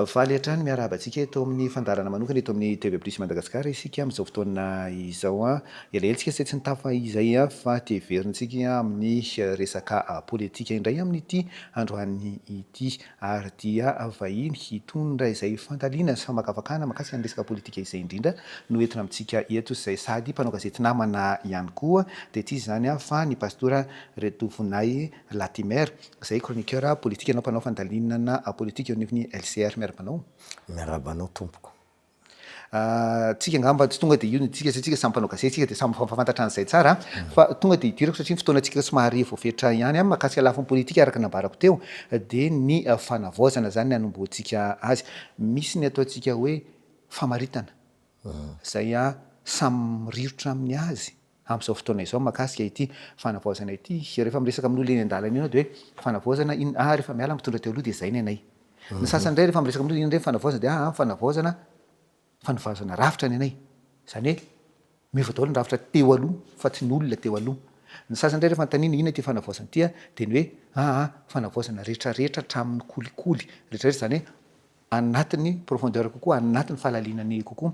Faly hatrany miarahaba antsika eto amin'ny fandaharana manokana eto amin'ny TV Plus Madagascar isika amin'izao fotoana izao. Elaela isika izay tsy nitafa izay fa te heverintsika amin'ny resaka politika indray amin'ity androany ity. ary dia vahiny hitondra izay fandalina sy famakafakana makasika ny resaka politika izay indrindra no entina amintsika eto izay sady mpanao gazety namana ihany koa dia tsy iza izany fa ny Pastora Retovonahy Latimer izay chroniqueur politika na mpanao fandalinana politika eo anivon'ny LCR. Miaraba anao. Miaraba anao tompoko. Tsika angamba tsy tonga dia io no hiditsika satria tsika samy mpanao gazety tsika dia samy mifamafantatra an'izay tsara fa tonga dia hidirako satria ny fotoanantsika somary voafetra ihany mahakasika lafiny politika araka ny nambarako teo dia ny fanavaozana izany ny hanombohantsika azy. Misy ny ataontsika hoe famaritana izay samy rirotra amin'ny azy. amin'izao fotoana izao mahakasika ity fanavaozana ity. Rehefa miresaka amin'olona eny an-dalana ianao dia hoe fanavaozana in, ah rehefa miala mitondra teo aloha dia izay ny anay. Ny sasany indray rehefa miresaka amin'olona inona indray ny fanavaozana dia ah fanavaozana, fanavaozana rafitra ny anay. Izany hoe miova daholo ny rafitra teo aloha fa tsy ny olona teo aloha. Ny sasany indray rehefa anontaniana inona ity fanavaozana ity ah dia ny hoe ah ah fanavaozana rehetrarehetra hatramin'ny kolikoly rehetrarehetra izany hoe anatin'ny profondeur kokoa, anatin'ny fahalaliana ny kokoa.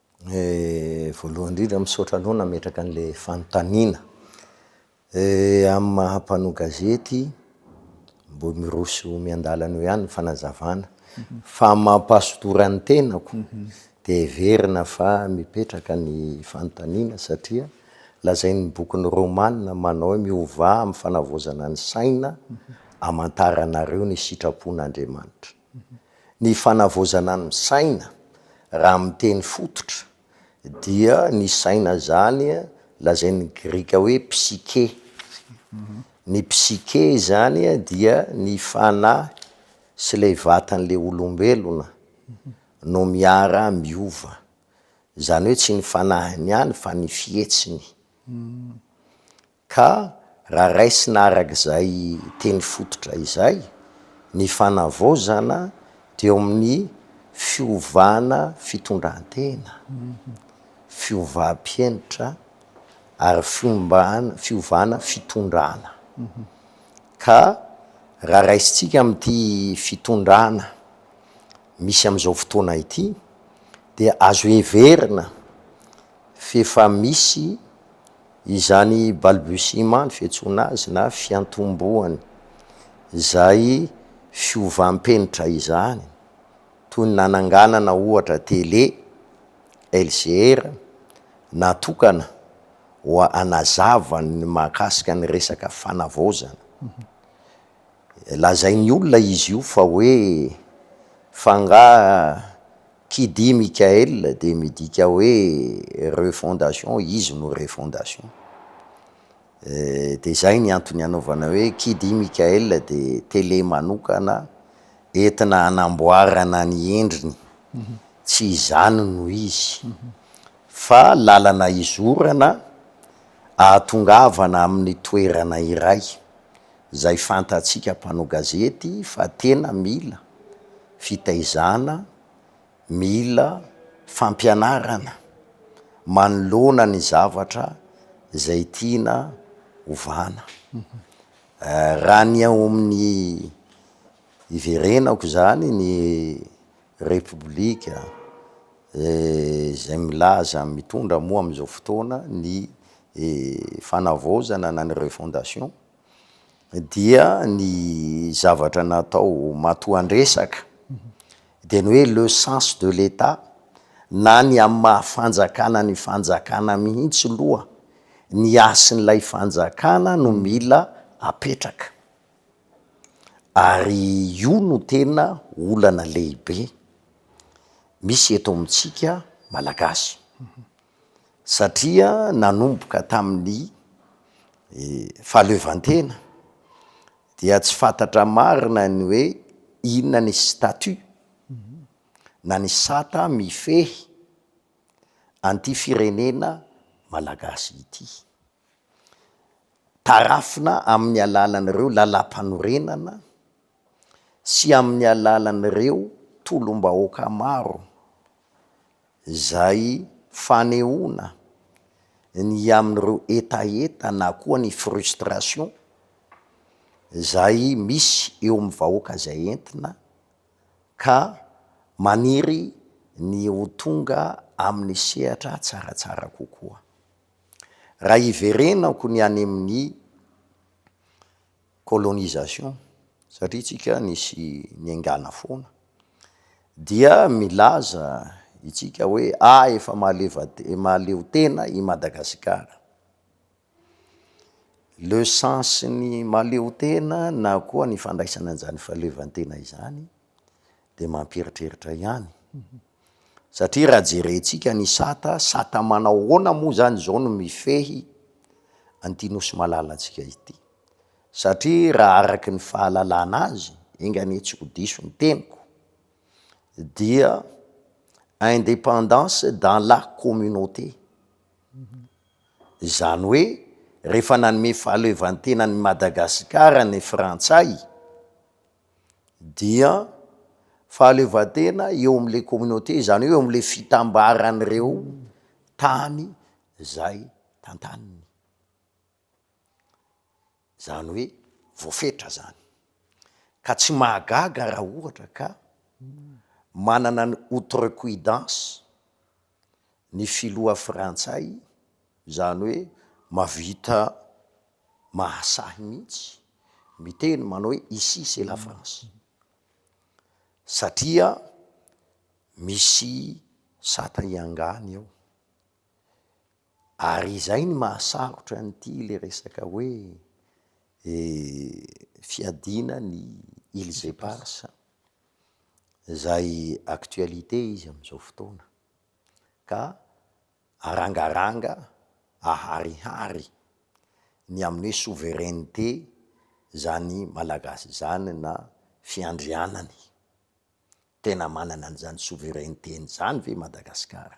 Voalohany indrindra misaotra anao nametraka an'ilay fanontaniana. Amin'ny maha mpanao gazety, mbola miroso eo miandalana eo ihany ny fanazavana. Fa ny mampahasotora ny tenako dia heverina fa mipetraka ny fanontaniana satria lazain'ny bokin'i Romana manao hoe miovà amin'ny fanavaozana ny saina, hamantaranareo ny sitrapon'Andriamanitra. Ny fanavaozana ny saina, raha amin'ny teny fototra, dia ny saina izany lazain'ny grika hoe psykè. Ny psykè izany dia ny fanahy sy ilay vatan'ilay olombelona no miara miova. Izany hoe tsy ny fanahiny ihany fa ny fihetsiny. Ka raha raisina araka izay teny fototra izay, ny fanavaozana dia eo amin'ny fiovana fitondran-tena, fiovam-pihenitra ary fiombana, fiovana fitondrana. Ka raha raisintsika amin'ity fitondrana misy amin'izao fotoana ity dia azo heverina f'efa misy. Izany balbutiement ny fiantsoana azy na fiantombohany izay fiovam-penitra izany, toy ny nananganana ohatra tele, LCR, natokana ho anazava ny mahakasika ny resaka fanavaozana. Lazain'ny olona izy io fa hoe fa angaha Kidi Mickaël dia midika hoe refondation, izy no refondation. Dia izay ny antony anaovana hoe Kidi Mickaël dia télé manokana entina hanamboarana ny endriny, tsy izany no izy fa lalana izorana ahatongavana amin'ny toerana iray Izay fantatsika mpanao gazety fa tena mila fitaizana, mila fampianarana manoloana ny zavatra izay tiana hovana. Raha ny ao amin'ny hiverenako izany ny Repoblika izay milaza mitondra moa amin'izao fotoana ny fanavaozana na ny refondation, dia ny zavatra natao matoan-dresaka dia ny hoe le sens de l'Etat na ny amin'ny maha fanjakana ny fanjakana mihitsy loha, ny hasin'ilay fanjakana no mila apetraka ary io no tena olana lehibe misy eto amintsika Malagasy. satria nanomboka tamin'ny fahaleovantena dia tsy fantatra marina ny hoe inona ny statut na ny sata mifehy an'ity firenena malagasy ity. Tarafina amin'ny alalan'ireo lalàmpanorenana. sy amin'ny alalan'ireo tolom-bahoaka maro izay fanehoana ny amin'ireo hetaheta na koa ny frustration izay misy eo amin'ny vahoaka izay entina ka maniry ny ho tonga amin'ny sehatra tsaratsara kokoa. Raha hiverenako ny any amin'ny colonisation satria tsika nisy niaingàna foana dia milaza itsika hoe ah efa mahaleo tena i Madagasikara le sens ny mahaleo tena na koa ny fandraisana an'izany fahaleovantena izany dia mampieritreritra ihany. Satria raha jerentsika ny sata, sata manao ahoana moa izany izao no mifehy an'ity nosy malalantsika ity? Satria raha araka ny fahalalana azy, enga anie tsy ho diso ny teniko, dia indépendance dans la communauté. Izany hoe rehefa nanome fahaleovantenan'i Madagasikara ny frantsay, dia fahaleovantena eo amin'ilay communauté, izany hoe eo amin'ilay fitambaran'ireo tany izay tantaniny. Izany hoe voafetra izany. Ka tsy mahagaga raha ohatra ka manana ny outrecuidance ny filoha frantsay izany hoe mavita mahasahy mihitsy miteny manao hoe ici c'est la France satria misy sata hiangany ao ary izay ny mahasarotra an'ity le resaka hoe fiadiana ny îles éparses izay actualité izy amin'izao fotoana ka arangaranga aharihary ny amin'ny hoe souveraineté izany Malagasy izany na fiandrianany. Tena manana an'izany souveraineté-ny izany ve Madagasikara?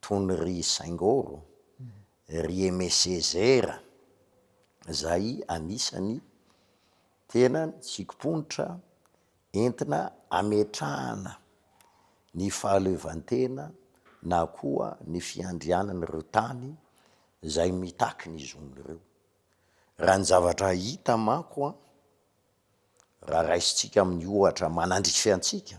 tony ry Saingoro, ry Aimé Césaire zay anisany tena tsikomponitra entina ametrahana ny fahaleovantena na koa ny fiandrianan'ireo tany zay mitaky ny zon'ireo. Raha ny zavatra hita manko an, raha raisintsika amin'ny ohatra manandrify antsika,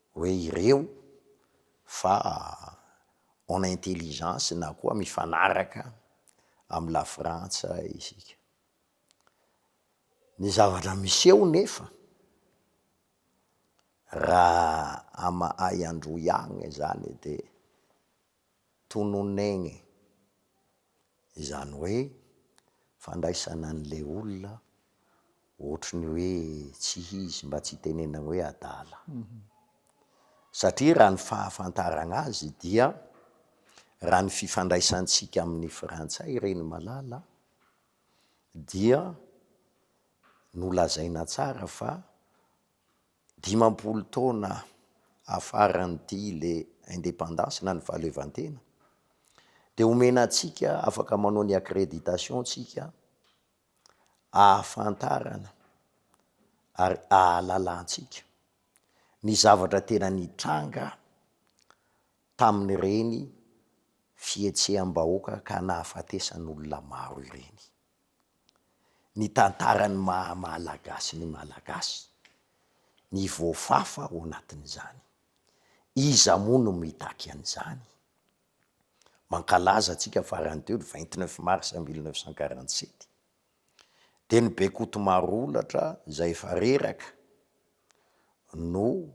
hoe ireo fa en intelligence na koa mifanaraka amin'i Lafrantsa isika. Ny zavatra miseho nefa raha amahay androy agny zany de. tononegny, izany hoe fandraisana an'le olona ohatry ny hoe tsy izy, mba tsy hitenenana hoe adala. Satria raha ny fahafantaragna azy dia raha ny fifandraisantsika amin'ny frantsay reny malala dia nolazaina tsara fa Dimampolo taona afaran'ity le indépendance na ny fahaleovantena dia omena antsika afaka manao ny accréditation tsika ahafantarana ary ahalalantsika ny zavatra tena nitranga tamin'ireny fihetseham-bahoaka ka nahafatesan'olona maro ireny. ny tantaran'ny maha Malagasy ny Malagasy, ny voafafa ao anatin'izany. Iza moa no mitaky an'izany? Mankalaza antsika farany teo ny vingt neuf mars mille neuf cent quarante sept, dia ny Bekotomarolatra izay efa reraka no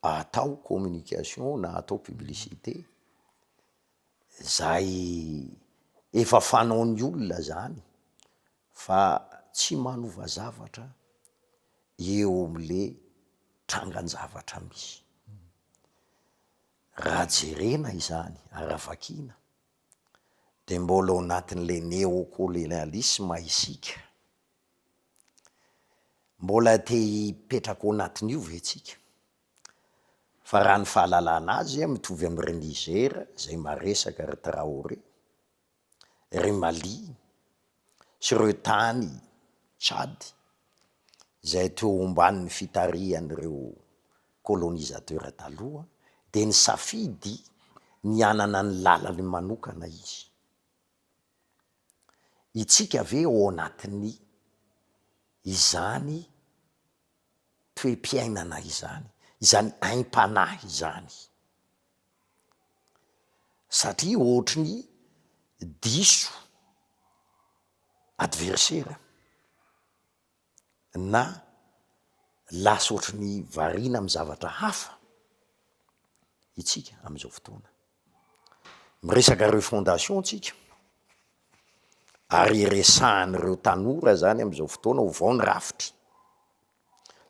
atao communication na atao publicité. Zay efa fanaon'ny olona zany fa tsy manova zavatra eo amle trangan-javatra misy. Raha jerena izany ary raha vakiana de mbola ao anatin'le neokolonialisma isika. Mbola te hipetraka ao anatin'io ve tsika? Fa raha ny fahalalana azy a, mitovy am ry Niger zay maresaka ry Traoré, ry Mali sy reo tany Tchad zay teo omban'ny fitarihan'ireo colonisateur taloha de nisafidy ny hanana ny lalany manokana izy. Itsika ve ao anatin'ny izany toe-piainana izany, izany aim-panahy izany. Satria ohatry ny diso adversaire na lasa ohatry ny variana amin'ny zavatra hafa itsika amin'izao fotoana. Miresaka refondation tsika ary resahan'ireo tanora zany amin'izao fotoana ho vao ny rafitra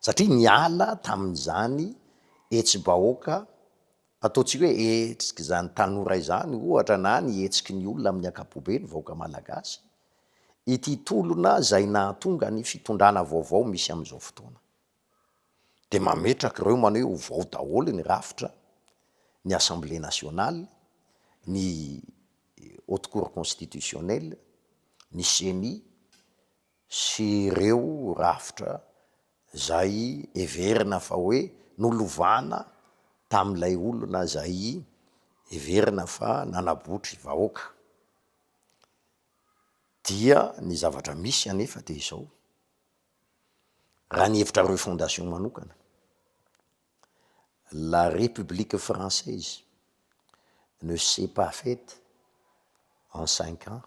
satria niala tamin'izany hetsi-bahoaka ataontsika hoe hetsik'izany tanora izany ohatra na ny hetsiky ny olona amin'ny ankapobeny vahoaka malagasy ity tolona izay nahatonga ny fitondrana vaovao misy amin'izao fotoana. dia mametraka ireo manao hoe ovao daholo ny rafitra, ny Assemblée nationale, ny Haute Cour constitutionnelle, ny Ceni sy ireo rafitra izay heverina fa hoe nolovana tamin'ilay olona izay heverina fa nanabotry vahoaka. Dia ny zavatra misy anefa dia izao. Raha ny hevitra refondation manokana, la République française ne s'est pas faite en cinq ans,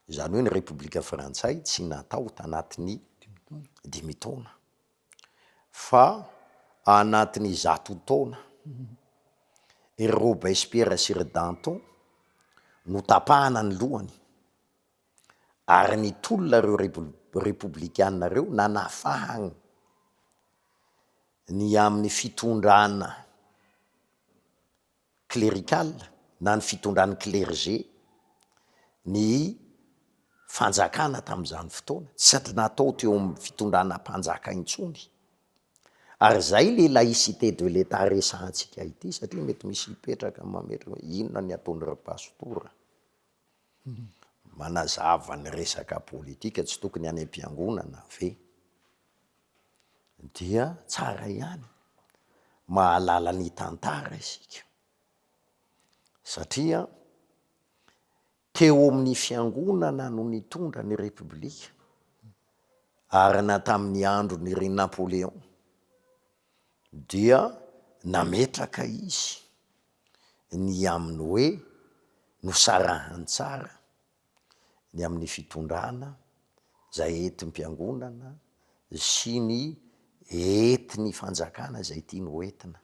izany hoe ny Repoblika Frantsay tsy natao tanatin'ny dimy taona fa anatin'ny zato taona. Ry Robespierre sy ry Danton notapahana ny lohany. Ary nitolona ireo Repoblikanina ireo nanafahagn ny amin'ny fitondrana clerical na ny fitondran'ny clergé ny fanjakana tamin'izany fotoana, tsy natao teo amin'ny fitondrana mpanjaka intsony. Ary izay le laïcité de l'Etat resahantsika ity satria mety misy hipetraka mametra hoe inona ny ataon'ireo pastora? Manazava ny resaka politika tsy tokony any am-piangonana ve? Dia tsara ihany, mahalala ny tantara isika satria teo amin'ny fiangonana no nitondra ny repoblika ary na tamin'ny andron'i ry Napoléon dia nametraka izy ny amin'ny hoe nosarahany tsara ny amin'ny fitondrana izay entim-piangonana sy ny entin'ny fanjakana izay tiany ho entina.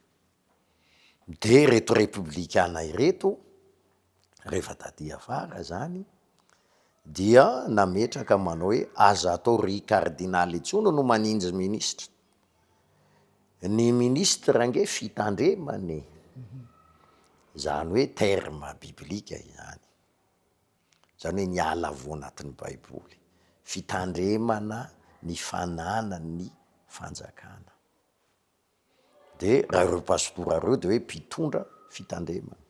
Dia ireto Repoblikana ireto, rehefa taty afara izany, dia nametraka manao hoe aza atao ry Kardinaly intsony no maninjy minisitra. Ny ministre ange fitandremana e, zany hoe terme biblique izany, zany hoe miala avy ao anatin'ny baiboly, fitandremana ny fananan'ny fanjakana, de raha reo pastora reo de hoe mpitondra fitandremana,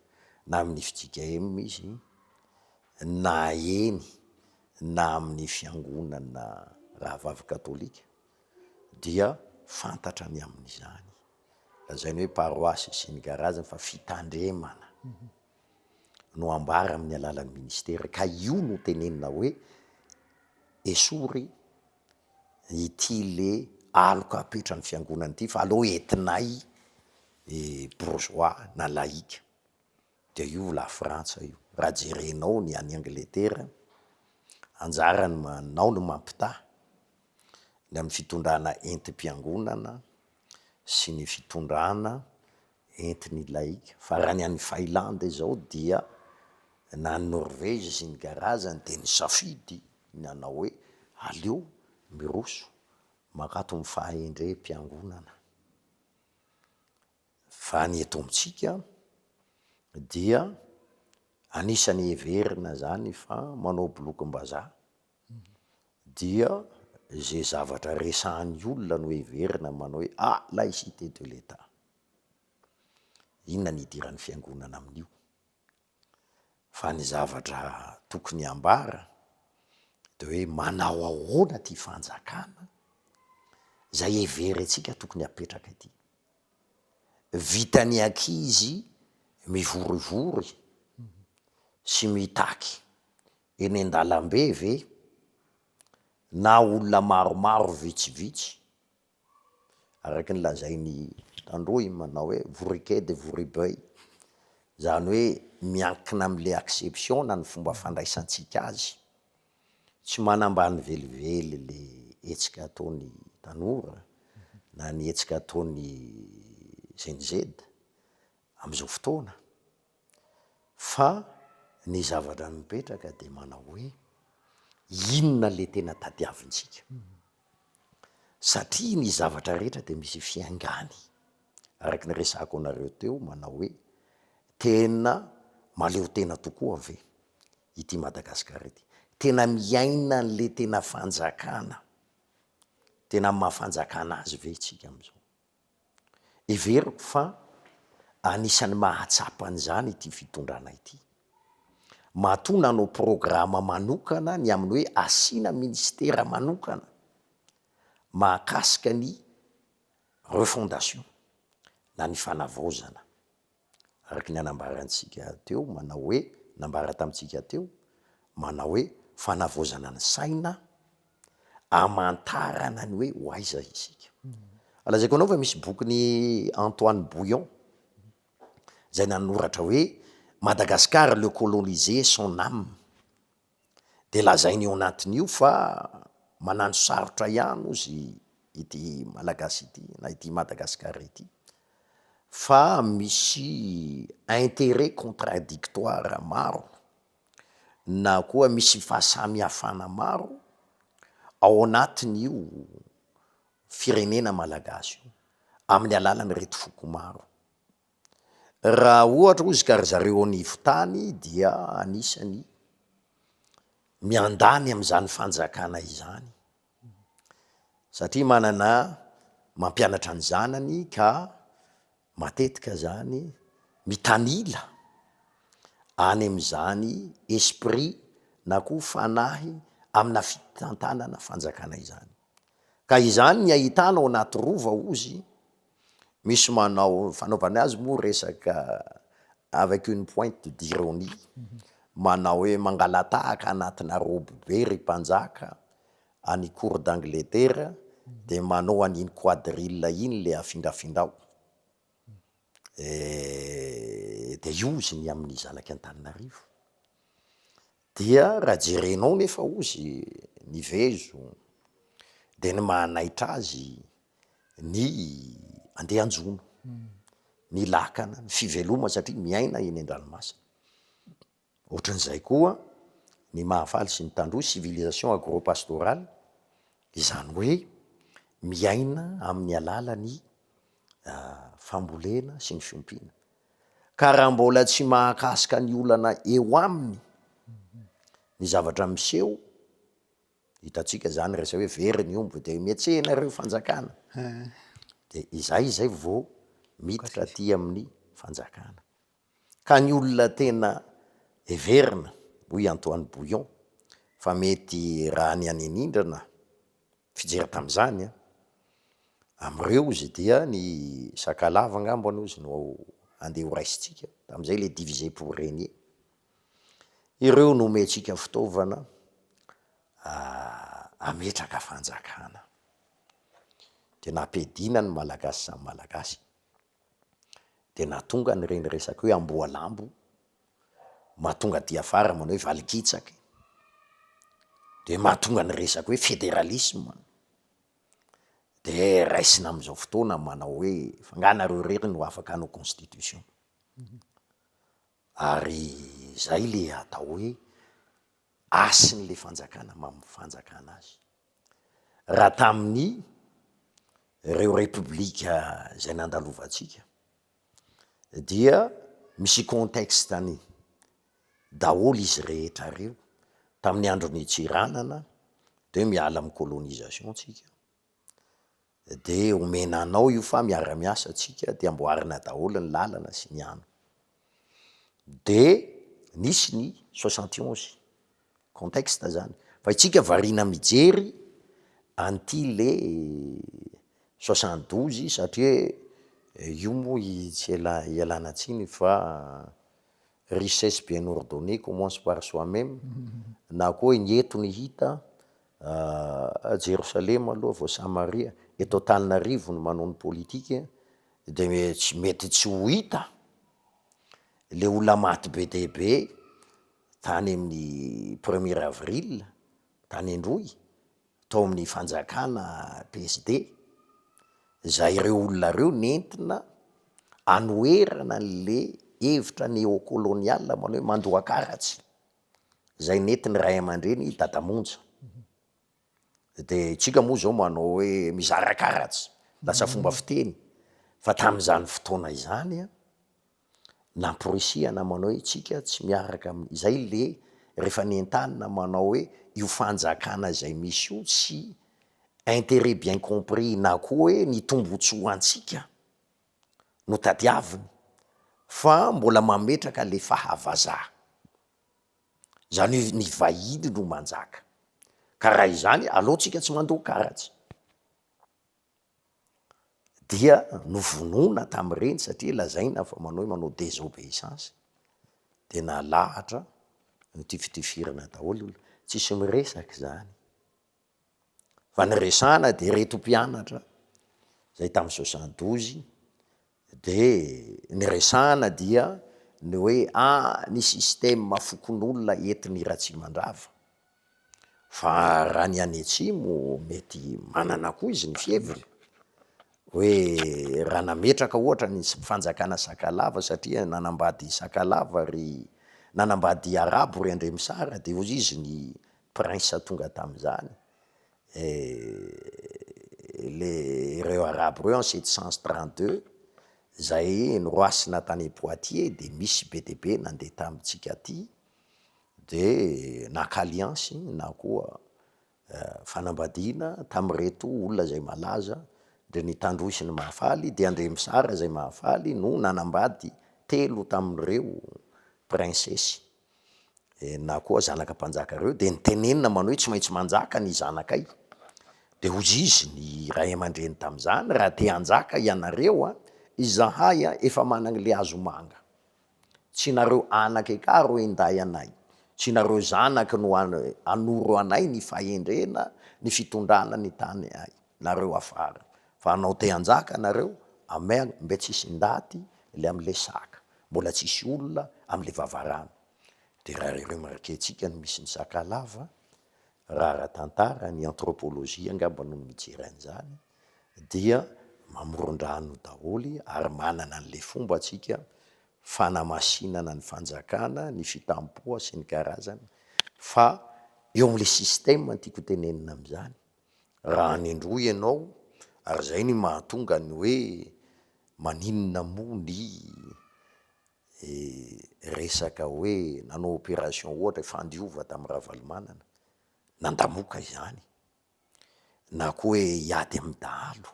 na amin'ny fjkm izy na eny na amin'ny fiangonana rahavavy katolika dia fantatra ny amin'izany. Lazainy hoe paroasy sy ny garaziny fa fitandremana no ambara amin'ny alalan'ny ministera ka io no tenenina hoe esory ity le aloka apetran'ny fiangonana ity fa aleo entinay bourgeois na laïc. Dia io lafrantsa io. Raha jerenao ny any Angletera, anjarany manao ny mampitaha ny amin'ny fitondrana entim-piangonana sy ny fitondrana entin'ny laika. Fa raha ny any Failandy izao dia na ny Norvezy sy ny karazany dia nisafidy ny hanao hoe aleo miroso mankato amin'ny fahendrem-piangonana. Fa ny eto amintsika dia anisan'ny heverina izany fa manao bolokim-bazaha dia izay zavatra resahan'ny olona no heverina manao hoe ah! laïcité de l'Etat. Inona ny idiran'ny fiangonana amin'io? Fa ny zavatra tokony hambara dia hoe manao ahoana ity fanjakana izay heverintsika tokony hapetraka ity. Vitan'ny ankizy mivorivory sy mitaky eny an-dalambe ve na olona maromaro vitsivitsy? araka ny lazain'i Tandroy manao hoe Voriquet de Voribeuil, izany hoe miankina amin'ilay acception na ny fomba fandraisantsika azy. Tsy manambany velively ilay hetsika ataon'ny tanora na ny hetsika ataon'ny Gen-Z amin'izao fotoana fa ny zavatra mipetraka dia manao hoe inona ilay tena tadiavintsika satria ny zavatra rehetra dia misy fiaingàny, araka ny resahako anareo teo manao hoe tena mahaleo tena tokoa ve ity Madagasikara ity? Tena miaina an'ilay tena fanjakana, tena amin'ny maha fanjakana azy ve isika amin'izao? Heveriko fa anisan'ny mahatsapa an'izany ity fitondrana ity. Matoa nanao programa manokana ny amin'ny hoe asiana minisitera manokana mahakasika ny refondation na ny fanavaozana. Araka ny anambarantsika teo, manao hoe, nambara tamintsika teo, manao hoe, fanavaozana ny saina, hamantarana ny hoe ho aiza isika. Lazaiko anao fa misy bokin'i Antoine Bouillon, izay nanoratra hoe, Madagascar, le colonisé, son âme. Dia lazainy io anatiny io fa manano sarotra ihany ozy ity Malagasy ity na ity Madagascar ity fa misy interet contradictoire maro na koa misy fahasamihafana maro ao anatiny io firenena Malagasy io amin'ny alalan'ireto foko maro. Raha ohatra hozy ka ry zareo ao anivon-tany dia anisany miandany amin'izany fanjakana izany satria manana mampianatra ny zanany ka matetika zany mitanila any amin'izany esprit na koa fanahy amina fitantanana fanjakana izany, ka izany ny ahitana ao anaty rova hozy. Misy manao fanaovany azy moa resaka avec une pointe d'ironie, manao hoe mangalatahaka anatina robe be ry mpanjaka any cour d'Angleterre dia manao an'iny quadrille iny le afingafingao eh, dia io izy ny amin'ny zanaky Antananarivo. Dia raha jerenao nefa ozy ny vezo dia ny mahanaitra azy ny andehanjono, ny lakana, ny fivelomany satria miaina eny an-dranomasina. Ohatran'izay koa ny mahafaly sy ny tandroy, civilisation agropastorale, izany hoe miaina amin'ny alalan'ny fambolena sy ny fiompiana. Ka raha mbola tsy mahakasika ny olana eo aminy ny zavatra miseho, hitantsika zany raha izay hoe very ny omby dia mihetsehina ireo fanjakana, dia izay izay vao miditra aty amin'ny fanjakana. Ka ny olona tena heverina hoy Antoine Bouillon fa mety raha ny any anindrana, Fijery tamin'izany amin'ireo ozy dia ny Sakalava angambany ozy no andeha ho raisintsika, tamin'izay ilay diviser pour regner. Ireo no omentsika fitaovana hametraka fanjakana. Dia nampiadiana ny Malagasy samy Malagasy. dia nahatonga an'ireny resaka hoe amboalambo mahatonga diafara manao hoe valikitsaky, dia mahatonga ny resaka hoe federalisme, dia raisina amin'izao fotoana manao hoe fa nga nareo irery no afaka hanao constitution? ary zay le atao hoe hasin'le fanjakana mamin'ny fanjakana azy. raha tamin'ny ireo repoblika izay nandalovantsika dia misy contexte-ny daholo izy rehetra ireo, tamin'ny andron'i Tsiranana dia miala amin'ny colonisation tsika. De omena anao io fa miara miasa tsika de amboarina daholo ny lalana sy ny ano. De nisy ny soixante et onze contexte zany fa itsika variana mijery an'ity le soixante douze satria io moa tsy ela ialana tsiny fa richesse bien ordonnee commence par soi meme na koa ny eto ny hita Ah, Jerosalema aloha vao Samaria, eto Antananarivo ny manao ny politique de tsy mety tsy ho hita le olona maty be dia be tany amin'ny premier avril tany Androy tao amin'ny fanjakana PSD, zay ireo olona ireo nentina anoherana anle hevitra neo-colonial manao hoe mandoa karatsy. Zay nety ny ray aman-dreny i Dada Monja. De tsika moa zao manao hoe mizara karatsy, lasa fomba fiteny. Fa tamin'izany fotoana izany an, namporisihana manao hoe tsika tsy miaraka amin'ny, izay le rehefa nentanina manao hoe io fanjakana izay misy io tsy interet bien compris na koa hoe ny tombotsoa antsika. no tadiaviny fa mbola mametraka le fahavazaha. Zany hoe ny vahiny no manjaka. Ka raha izany aleo tsika tsy mandoa karatsy. Dia novonoina tamin'ireny satria lazaina fa manao hoe manao desobeissance. De nalahatra notifitifirina daholo, tsisy miresaka zany. Fa ny resahana dia ireto mpianatra zay tamin'ny soixante douze de niresahana dia ny hoe ah ny système fokonolona entin'i Ratsimandrava, fa raha ny any atsimo mety manana koa izy ny fiheviny, hoe raha nametraka ohatra ny fanjakana Sakalava satria nanambady Sakalava ry, nanambady Arabo ry Andremisara de hoy izy ny Prince tonga tamizany et le ireo arabo ireo en sept cent trente deux zay noroasina tany Poitiers de misy be de be nande tamitsika aty de naka alliance na koa fanambadiana tamireto olona zay malaza de ny Tandroy ny Mahafaly de Andriamisara zay Mahafaly no nanambady telo taminireo princesse Dia na koa zanaka mpanjaka ireo dia nitenenina manao hoe tsy maintsy manjaka ny zanakay. Dia hozy izy ny ray aman-dreny tamin'izany, raha te hanjaka ianareo, izahay efa managny le hazomanga. Tsy nareo anaka eka ro hinday anay, tsy nareo zanaky no hanoro anay ny fahendrena, ny fitondrana ny tany ay. nareo afara fa anao te anjaka nareo amen mbe tsisy ndaty le amle saka mbola tsisy olona amle vavarano de ra re remarquentsika ny misy ny sakalava ra aratantara ny anthropologie angamba no mijery anzany dia mamorondrano daholy ary manana anle fomba tsika fanamasinana ny fanjakana ny fitampoha sy ny karazany fa eo amle systeme ny tiko tenenina amzany raha anindroa ianao ary zay ny mahatonga ny hoe maninona moa ny resaka hoe nanao operation ohatra fandiova tam Ravalomanana, nandamoka izany, na koa hoe hiady am dahalo,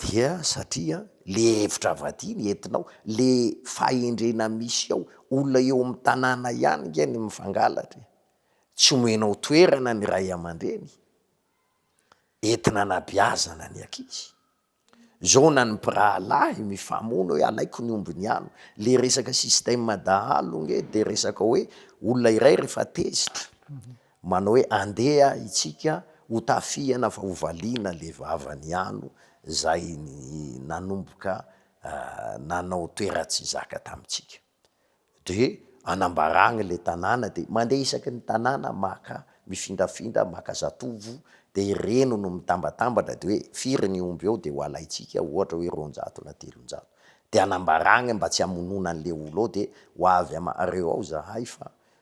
Dia satria le hevitra avadiany entinao, le fahendrena misy ao, olona eo amin'ny tanàna ihany nge no mifangalatra e, tsy omenao toerana ny ray aman-dreny entina anabeazana ny ankizy, zao na ny mpirahalahy mifamono hoe alaiko ny omby ny anona, le resaka système dahalo nge de resaka hoe olona iray rehefa tezitra, Manao hoe andeha itsika ho tafihana fa ho valiana le vavany ano zay nanomboka nanao toeratsy zaka tamitsika. De anambaragny le tanàna de mandeha isaky ny tanàna maka mifindrafindra maka zatovo de ireny no mitambatambatra de hoe firy ny omby eo de ho alaitsika ohatra hoe roanjato na telonjato de anambaragny mba tsy hamonona anle olo ao de ho avy amareo ao zahay fa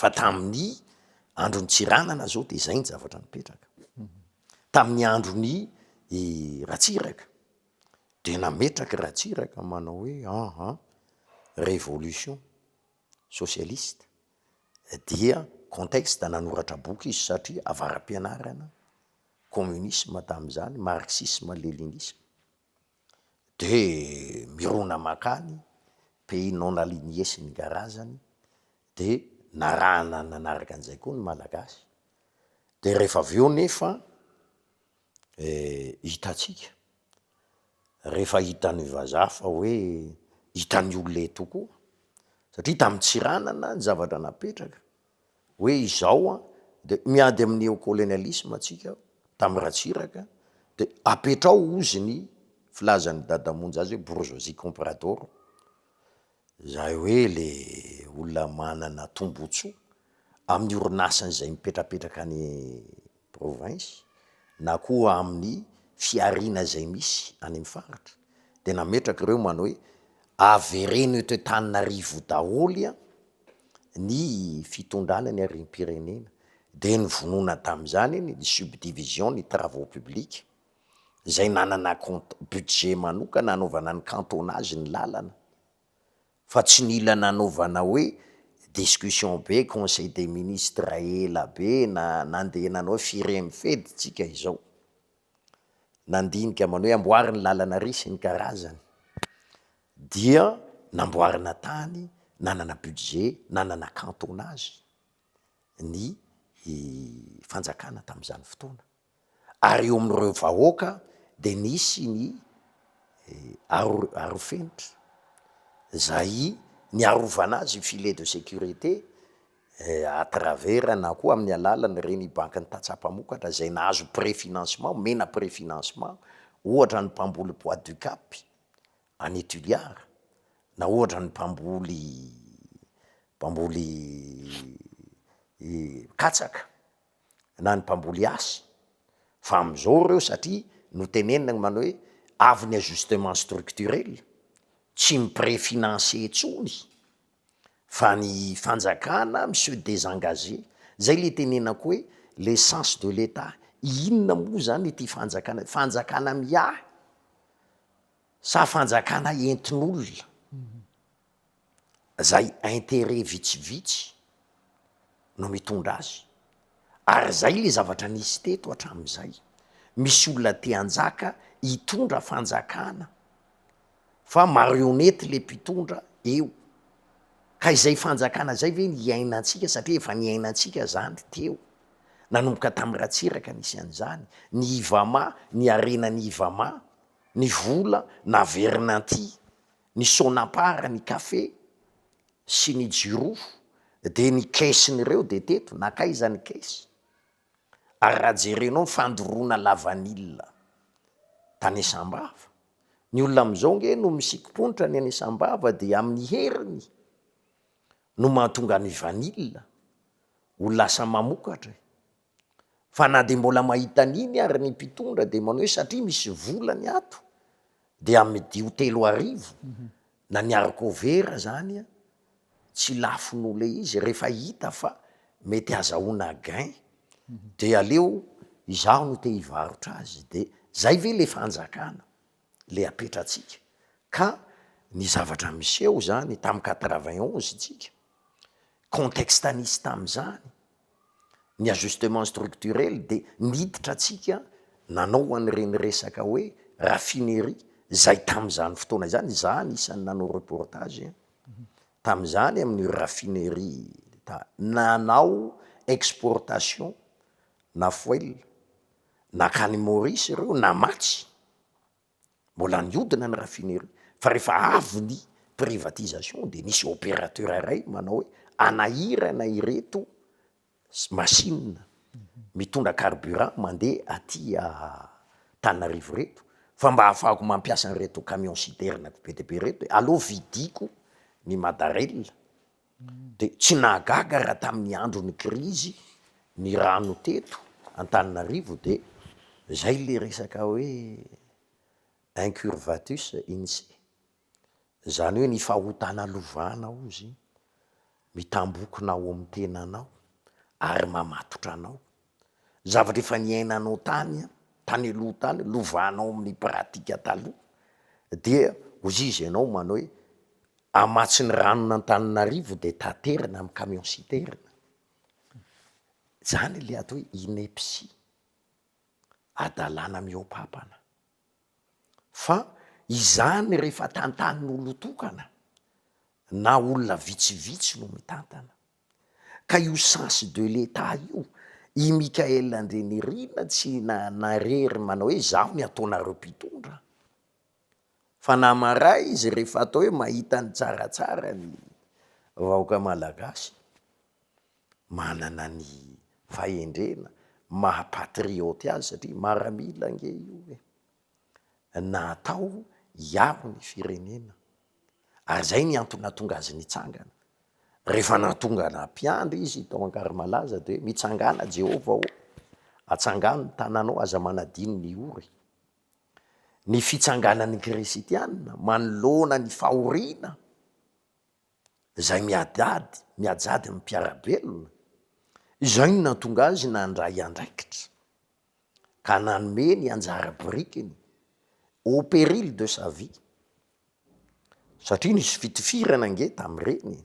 fa tamin'ny andron'i Tsiranana zao de zay ny zavatra nipetraka, tamin'ny andron'i Ratsiraka de nametraky Ratsiraka manao hoe aha révolution socialiste dia contexte nanoratra boky izy satria avara-pianarana communisme tamin'izany marxisme leninisme. De mirona makany pays non aligné sy ny garazany de narahana nanaraka an'izay koa ny malagasy, de rehefa avy eo nefa hitantsika, rehefa hitan'ny vazaha fa hoe hitan'ny olona eto koa satria tamin'ny Tsiranana ny zavatra napetraka hoe izao an dia miady amin'ny neo colonialisme tsika tamin'ny Ratsiraka dia apetrao ozy ny filazan'i Dada Monja azy hoe bourgeoisie comprador izay hoe le olona manana tombotsoa amin'ny orinasany izay mipetrapetraka any province na koa amin'ny fihariana izay misy any amin'ny faritra dia nametraka ireo man hoe avereno eto Antananarivo daholo an ny fitondrana ny harem-pirenena dia nivonona tamin'izany iny ny subdivision ny travaux publics izay nanana compte budget manokana hanaovana ny cantonage ny lalana fa tsy nila nanaovana hoe discussion be conseil des ministres ela be na nandeha nanao hoe firy amby fedy tsika izao nandinika manao hoe amboary ny lalana ry sy ny karazany dia namboarina tany nanana budget nanana cantonage ny fanjakana tamin'izany fotoana. ary eo amin'ireo vahoaka dia nisy ny arofenitra izay niarovana azy i filet de sécurité à travers na koa amin'ny alalan'ireny bankin'ny tantsaha mpamokatra izay nahazo pré financement, omena pré financement ohatra ny mpamboly bois du cap any Toliara na ohatra ny mpamboly mpamboly katsaka. na ny mpamboly azy fa amin'izao ireo satria notenenina ny manao hoe avy ny ajustement structurel, tsy ny près financier intsony fa ny fanjakana mi-se desengager, zay le itenenako hoe le sens de l'etat, inona moa zany ity fanjakana, fanjakana miahy sa fanjakana entin'olona? izay interet vitsivitsy no mitondra azy, ary izay le zavatra nisy teto hatramin'izay, misy olona te hanjaka hitondra fanjakana fa marionnette le mpitondra eo, ka izay fanjakana izay ve no hiainantsika satria efa niainantsika izany teo, nanomboka tamin'ny Ratsiraka nisy an'izany, ny Ivama, ny harenan'ny Ivama, ny vola naverina aty, ny Sonapar, ny Cafe sy ny Jirofo dia ny caissen'ireo dia teto, nankaiza ny caisse? ary raha jerenao ny fandoroana lavanila tany Asambava, ny olona amin'izao ange no misikim-ponitra ny any Asambava dia amin'ny heriny no mahatonga ny vanila ho lasa mamokatra e! Fa na dia mbola mahita an'iny ary ny mpitondra dia manao hoe satria misy vola ny ato dia amidio telo arivo na ny haricovera zany a, tsy lafo noho le izy rehefa hita fa mety hazahoana gain dia aleo izaho no te hivarotra azy dia zay ve le fanjakana? le apetratsika ka ny zavatra miseho izany tamin'ny quatre vingt onze tsika contexte nisy tamin'izany ny ajustement structurel de niditra tsika nanao an'ireny resaka hoe raffinerie izay tamin'izany fotoana izany za anisan'ny nanao reportage tamin'izany amin'ny raffinerie ta- nanao exportation na foil Nankany Maurice ireo namatsy, mbola niodina ny raffinerie fa rehefa avy ny privatisation dia nisy opérateur iray manao hoe anahirana ireto machine mitondra carburant mandeha aty Antananarivo ireto fa mba hahafahako mampiasa an'ireto camion citerne be dia be ireto e, aleo vidiko ny Madarella. Dia tsy nahagaga raha tamin'ny andron'ny krizy ny rano teto Antananarivo dia izay ilay resaka hoe incurvatus intsy. Izany hoe ny fahotana lovana ozy mitambokona ao amin'ny tenanao ary mamatotra anao. zavatra efa niainanao tany an, tany aloha tany, lovanao amin'ny pratique taloha, dia hoy izy ianao manao hoe, hamatsy ny ranon'Antananarivo dia taterina amin'ny camion citerne, zany le atao hoe ineptie, hadalana mihoapapana, fa izany rehefa tantanin'olon-tokana na olona vitsivitsy no mitantana, Ka io sens de l'Etat io, i Mickaël Andrianirina tsy narery manao hoe izaho ny ataonareo mpitondra. Fa na maray izy rehefa atao hoe mahita ny tsaratsara ny vahoaka malagasy, manana ny fahendrena maha patriote azy satria maramila ange io e. natao hiaro ny firenena ary izay ny antony nahatonga azy nitsangana. Rehefa nahatongana mpiandry izy tao Ankarimalaza dia hoe mitsangàna Jehovah ô, atsangano ny tananao, aza manadino ny ory. Ny fitsanganan'ny Krisitiana manoloana ny fahoriana izay miadady, miajady ny mpiara-belona, izay no nahatonga azy nandray andraikitra. ka nanome ny anjara birikiny au péril de sa vie satria nisy fitifirana ange tamin'ireny e!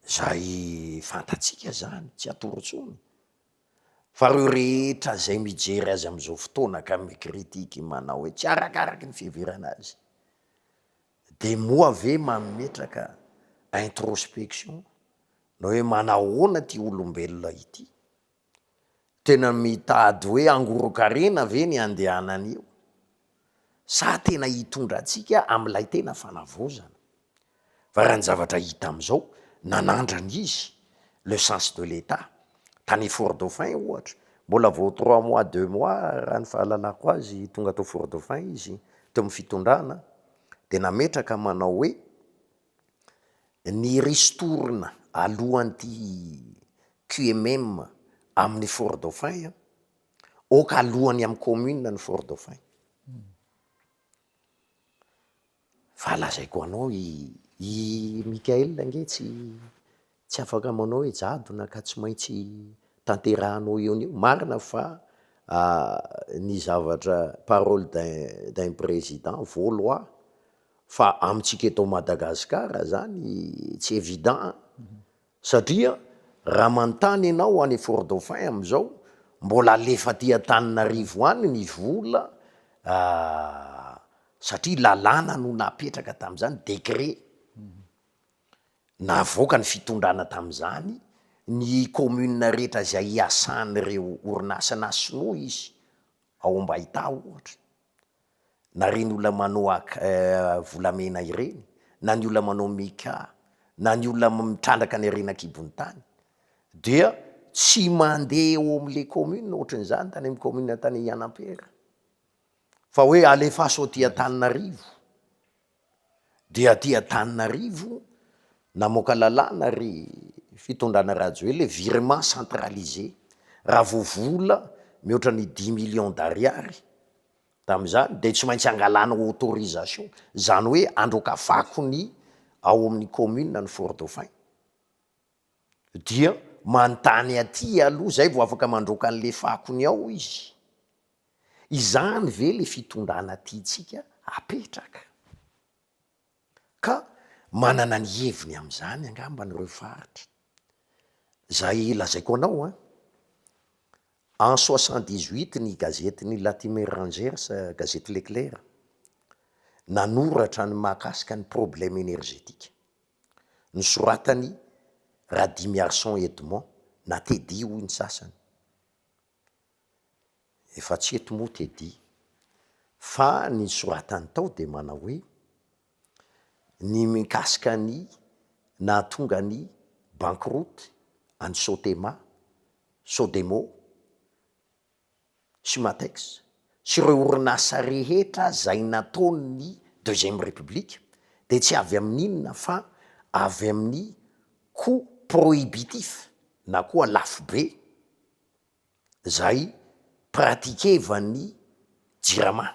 izay fantatsika izany, tsy atoro intsony fa ireo rehetra izay mijery azy amin'izao fotoana ka mi-critique manao hoe tsy arakaraky ny fiheverana azy dia moa ve mametraka introspection na hoe manahoana ity olombelona ity? Tena mitady hoe hangoron-karena ve ny handehanana io sa tena hitondra antsika amin'ilay tena fanavaozana? Fa raha ny zavatra hita amin'izao, nanandrana izy le sens de l'Etat. Tany Fort Dauphin ohatra, mbola vao trois mois, deux mois raha ny fahalalako azy tonga tao Fort Dauphin izy teo amin'ny fitondrana dia nametraka manao hoe, Ny ristourne alohan'ity QMM amin'ny Fort Dauphin an, ok alohan'ny amin'ny commune ny Fort Dauphin, fa lazaiko anao i Mickaël ange tsy Tsy afaka manao hoe jadona ka tsy maintsy tanterahanao eo anio. Marina fa ny zavatra parole d'un président vaut loi fa amintsika eto Madagascar zany tsy évident an! Satria raha manontany ianao any Fort Dauphin amin'izao mbola alefa aty Antananarivo any ny vola satria lalàna no napetraka tamin'izany, décret. Navoaka ny fitondrana tamin'izany ny kaominina rehetra izay hiasan'ireo orinasa na sinoa izy, ao Ambaitaha ohatra, na ireny olona manao ak volamena ireny, na ny olona manao mica, na ny olona mitrandraka ny harena an-kibon'ny tany dia tsy mandeha eo amin'ilay kaominina ohatran'izany tany amin'ny kaominina tany Ihanampera fa hoe alefaso aty Antananarivo Dia aty Antananarivo namoaka lalàna ry fitondrana Rajoelina hoe virement centralisé, raha vao vola mihoatra ny dimy millions d'ariary tamin'izany dia tsy maintsy angalana autorisation, izany hoe androkafako ny ao amin'ny commune ny four-dauphin. Dia manontany aty aloha zay vao afaka mandroaka an'le fako ny ao izy. Izany ve le fitondrana tiantsika apetraka? Ka manana ny heviny amin'izany angamba ireo faritra. Zay lazaiko anao an! En soixante dix huit ny gazetin'i Latimer Rangers, gazety Leclerc, nanoratra ny mahakasika ny problème énergétique. Nosoratan'i Radimiarison Edmond na Teddy hoy ny sasany. Efa tsy eto moa Teddy. Fa ny nosoratany tao dia manao hoe, ny mikasika ny nahatonga ny bankiroty an'i Sotema, Sodemo, Sumatex, sy ireo orinasa rehetra izay nataon'ny Deuxième République dia tsy avy amin'inona fa avy amin'ny coût prohibitif na koa lafo be izay pratiquevan'ny Jirama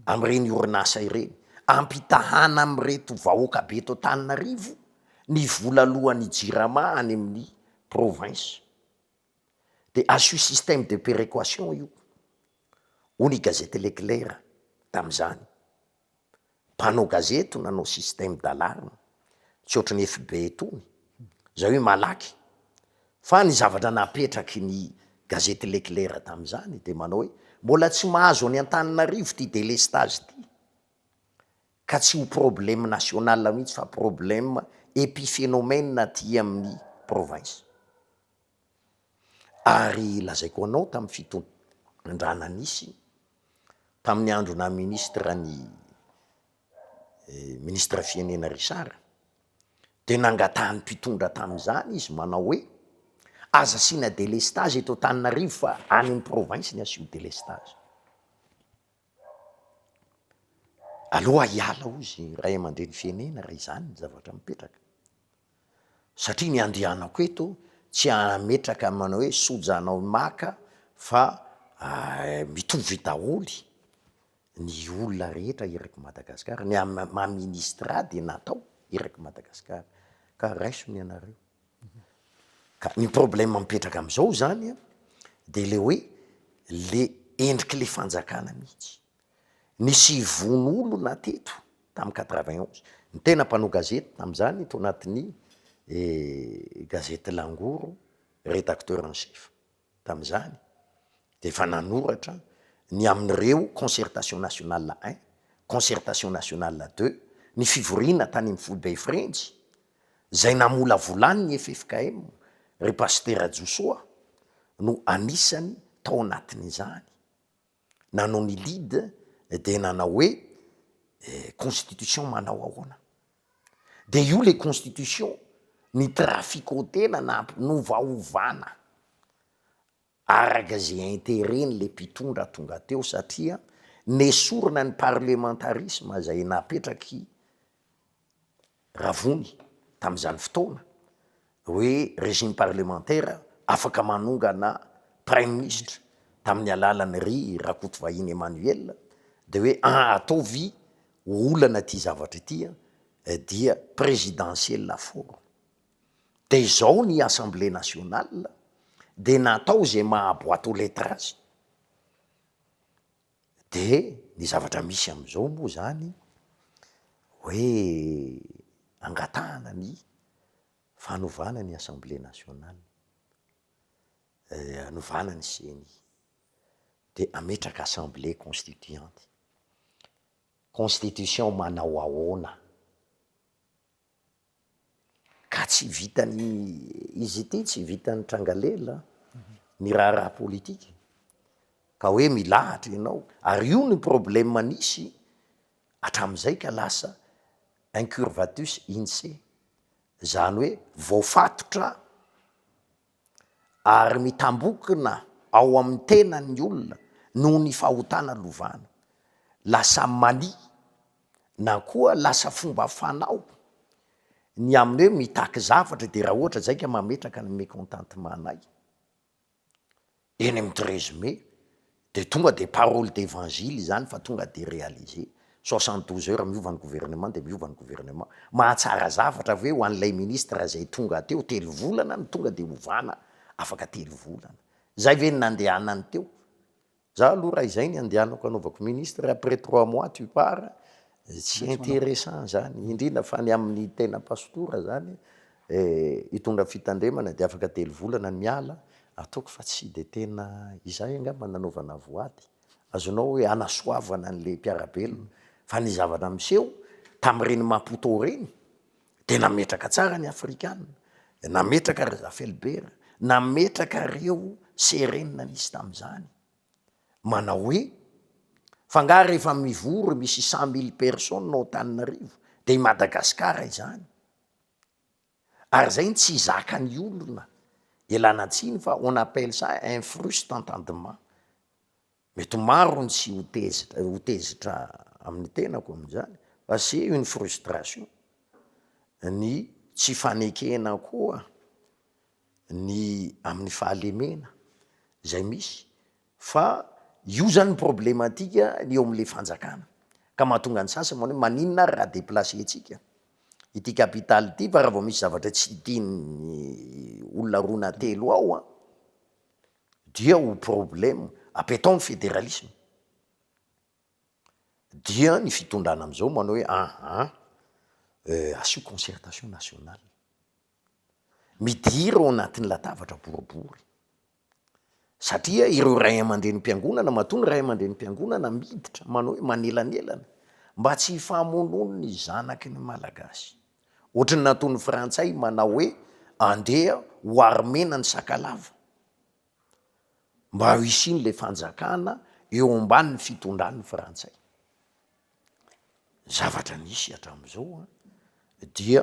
amin'ireny orinasa ireny ampitahana amin'ireto vahoaka be eto Antananarivo ny vola aloan'ny Jirama any amin'ny province. dia asio système de péréquation io, hoy ny gazety Le Clair tamin'izany. Mpanao gazety no nanao système d'alarme, tsy ohatry ny FB itony, izay hoe malaky. Fa ny zavatra napetraky ny gazety Le Clair tamin'izany dia manao hoe, mbola tsy mahazo an'i Antananarivo ity délestage ity, ka tsy ho problème national mihitsy fa problème épiphénomène aty amin'ny province. Ary lazaiko anao tamin'ny fitondrana nisy tamin'ny andro naha ministre an'i Ministre Firenena Richard dia nangatahan'ny mpitondra tamin'izany izy manao hoe, aza asiana delestage eto Antananarivo fa any amin'ny province ny asio delestage. Aleo hiala hoy izy ray aman-dreny firenena raha izany ny zavatra mipetraka, satria ny andehanako eto tsy hametraka ny manao hoe soja anao maka fa mitovy daholo ny olona rehetra eraky Madagasikara, ny maha ministra ahy dia natao eraky Madagasikara ka raiso ny anareo. Ka ny problème mipetraka amin'izao izany an, dia ilay hoe ilay endrik'ilay fanjakana mihitsy. Nisy ivono olona teto tamin'ny quatre vingt onze, ny tena mpanao gazety tamin'izany tao anatin'ny gazety Langoro, rédacteur en chef. tamin'izany dia efa nanoratra ny amin'ireo concertation nationale un, concertation nationale deux, ny fivoriana tany amin'ny foibe Frenjy, izay namolavolan' ny ffkm, ry Pasitera Josoa no anisany tao anatin'izany. Nanao ny lead dia nanao hoe constitution manao ahoana? Dia io le constitution ny trafiquautena na ampinovaovana araka ze interet n'le mpitondra tonga teo satria nesorina ny parlementarisme zay napetraky Ravony tamin'izany fotoana hoe régime parlementaire afaka manongana praiminisitra tamin'ny alalan'i Ry Rakotovahiny Emmanuel dia hoe an ataovy ho olana ity zavatra ity an dia présidentielle à forme dia izao ny assemblée nationale dia natao izay maha boite aux lettres azy De ny zavatra misy amizao moa zany hoe angatahana ny fanovana ny assemblée nationale, anovana ny ceni, de ametraka assemblée constituante, constitution manao ahoana? Ka tsy vitan'ny izy ity, tsy vitan'ny tranga lela ny raharaha politika ka hoe milahatra ianao ary io no problème nisy hatramin'izay ka lasa incurvatus inse, izany hoe voafatotra. ary mitambokina ao amin'ny tenan'ny olona noho ny fahotana lovana. Lasa mania na koa lasa fomba fanao ny amin'ny hoe mitaky zavatra dia raha ohatra zay ka mametraka ny mécontentement-nay. Eny amin'ny treize mai dia tonga dia parole d'evangile izany fa tonga dia realiser. Soixante douze heures miova ny gouvernement dia miova ny gouvernement. Mahatsara zavatra ve ho an'ilay ministre izay tonga teo telo volana no tonga dia ovana afaka telo volana. Izay ve no nandehanany teo? Za aloha raha izay no handehanako hanaovako ministre après trois mois tu pars, tsy interessant izany. Indrindra fa ny amin'ny tena pastora izany Hitondra fitandremana dia afaka telo volana ny ala, ataoko fa tsy dia tena izay angamba nanaovana voady. Azonao hoe hanasoavana an'ilay mpiara-belona fa ny zavatra miseho tamin'ireny Maputo ireny dia nametraka tsara ny afrikana, nametraka ry Rafelibera, nametraka ireo Serena nisy tamin'izany manao hoe fa angaha rehefa mivory misy cent mille personnes ao Antananarivo dia i Madagasikara izany? Ary zay no tsy zakan'ny olona, ialana tsiny fa on appelle ça un fruste entendement. Mety ho maro ny tsy ho tezitra ho tezitra amin'ny tenako amin'izany fa c'est une frustration. Ny tsy fanekena koa ny amin'ny fahalemena zay misy. Fa io zany ny problematika ny eo amin'ilay fanjakana. Ka mahatonga ny sasany manao hoe maninona ary raha deplacer-tsika ity capital ity fa raha vao misy zavatra tsy tian'ny olona roa na telo ao an, dia ho problème. Apetao ny federalisme. Dia ny fitondrana amin'izao manao hoe aha, asio concertation nationale. Midira ao anatin'ny latabatra boribory. Satria ireo ray aman-drenim-piangonana, matoa ny ray aman-drenim-piangonana miditra, manao hoe manelanelana mba tsy hifamonoan'ny ny zanaky ny Malagasy. Ohatry ny nataon'ny frantsay manao hoe andeha ho armena ny sakalava, mba ho hisian'ilay fanjakana eo ambanin'ny fitondran'ny frantsay. Zavatra nisy hatramin'izao dia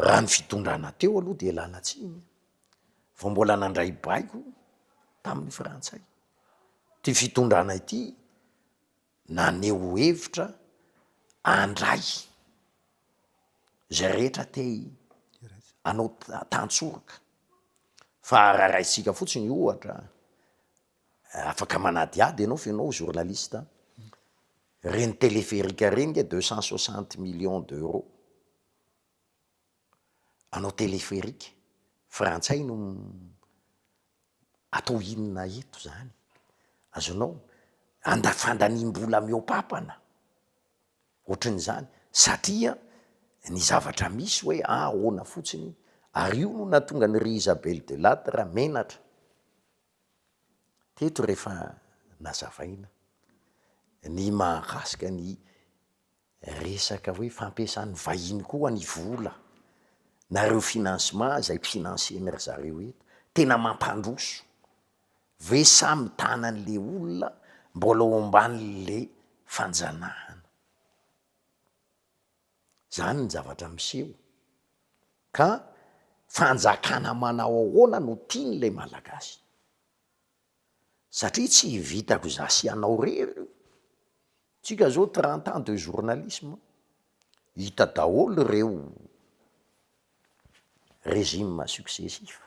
raha ny fitondrana teo aloha dia lanatsiny. vao mbola nandray baiko tamin'ny frantsay. Ity fitondrana ity naneho hevitra handray izay rehetra te hanao tantsoroka fa raha raisika fotsiny ohatra afaka manadihady ianao fa ianao journaliste an, ireny telepherique ireny nge deux cent soixante millions d'euros. Anao telepheric frantsay no atao inona eto zany? Azonao anda- fandaniam-bola mihoapapana ohatran'izany satria ny zavatra misy hoe ahoana fotsiny ary io no nahatonga an'i ry Isabel de Ladra menatra teto rehefa nazavaina ny mahakasika ny Resaka hoe fampiasan'ny vahiny koa ny vola na ireo financement izay financer-ny ry zareo eto, tena mampandroso. Ve sa mitana an'le olona mbola ao ambanin'le fanjanahana. Zany ny zavatra miseho ka fanjakana manao ahoana no tian'le malagasy. satria tsy vitako za sy anao rery io, tsika zao trente ans de journalisme hita daholo reo regime successif,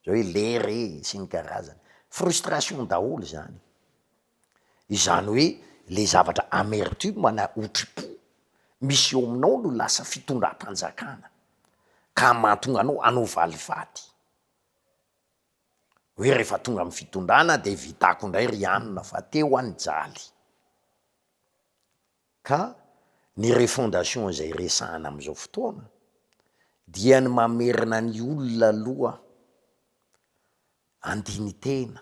zao hoe lera e sy ny karazany, frustration daholo zany, izany hoe le zavatra amertume na otripo misy eo aminao no lasa fitondram-panjakana ka mahatonga anao hanao valifaty. hoe rehefa tonga amin'ny fitondrana dia vitako indray ry anona fa teo aho nijaly, ka ny refondation izay resahana amin'izao fotoana dia ny mamerina ny olona aloha handini-tena,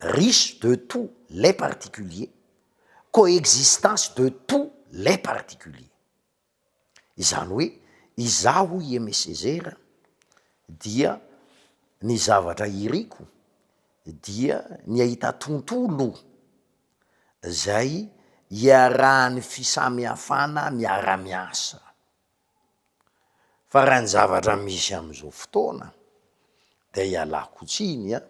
riche de tous les particuliers, coexistence de tous les particuliers. Izany hoe izaho hoy i Aimé Césaire dia ny zavatra iriko dia ny hahita tontolo izay iarahan'ny fisamihafana miara-miasa. Fa raha ny zavatra misy amzao fotoana de ialako tsiny an,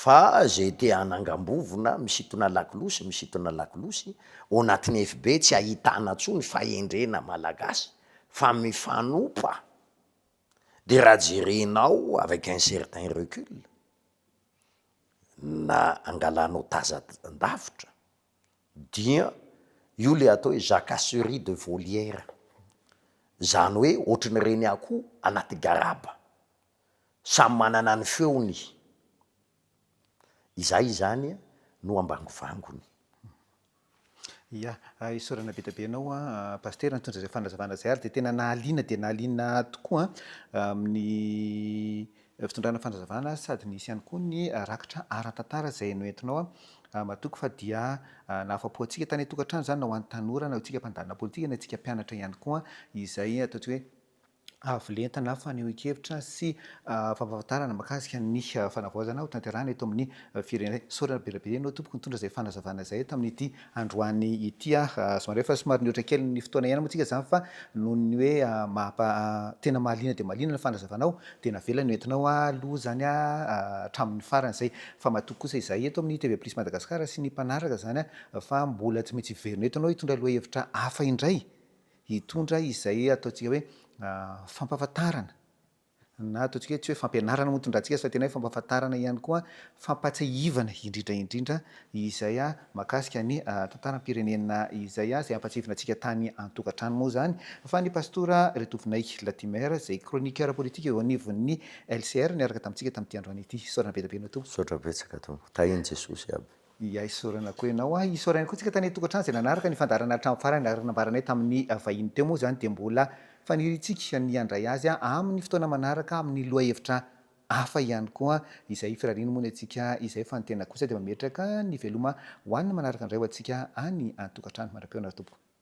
fa zay te hanangambovona misintona lakolosy misintona lakolosy, ao anatin'ny FB tsy ahitana tsony fahendrena malagasy fa mifanopa, de raha jerenao avec un certain recul na angalanao tazan-davitra. Dia io ilay atao hoe jacasserie de volière. Izany hoe ohatran'ireny akoho anaty garaba. Samy manana ny feony. Izay izany no ambangovangony. Ia. Isaorana be dia be anao Pasitera nitondra izay fanazavana izay ary dia tena nahaliana dia nahaliana tokoa amin'ny Fitondrana fanazavana sady nisy ihany koa ny rakitra ara-tantara izay noentinao matoky fa dia nahafapo antsika tany an-tokantrano izany na ho an'ny tanora na antsika mpandalina politika na antsika mpianatra ihany koa izay ataontsika hoe avo lenta na fanehoan-kevitra sy fampahafantarana makasika ny fanavaozana ho tanterahina eto amin'ny firenena. Sorena be la be ianao tompoko nitondra izay fanazavana izay tamin'ity androany ity aho somary efa somary nihoatra kely ny fotoana hiaina moa tsika izany fa noho ny hoe maha tena mahaliana dia mahaliana ny fanazavanao dia navela ny ho entinao aloha izany hatramin'ny farany izay fa matoky kosa izahay eto amin'ny TV Plus Madagascar sy ny mpanaraka izany fa mbola tsy maintsy hiverina eto ianao hitondra lohahevitra hafa indray hitondra izay ataontsika hoe fampahafantarana Na ataontsika hoe tsy hoe fampianarana moa tondrahantsika azy fa tena hoe fampahafantarana ihany koa, fampahatsiahivana indrindra indrindra izay mahakasika ny tantaram-pirenena izay, izay hampahatsiahivina antsika tany an-tokantrano moa izany fa ny Pastora Retovinay Latimer izay chroniqueur politique eo anivon'ny LCR niaraka tamintsika tamin'ity androany ity. Isaorana be dia be anao Tompo. Misaotra betsaka Tompo. Tahin'i Jesosy aby. Iay isaorana koa ianao an! Isaorana ihany koa tsika tany tokantrano izay nanaraka ny fandaharana hatramin'ny farany ary nambaranay tamin'ny vahiny teo moa izany dia mbola faniriantsika ny handray azy amin'ny fotoana manaraka amin'ny lohahevitra hafa ihany koa izay firariany moa ny antsika izay fa ny tena kosa dia mametraka ny veloma ho an'ny manaraka indray ho antsika any an-tokantrano. Mandra-pihaona ry Tompo.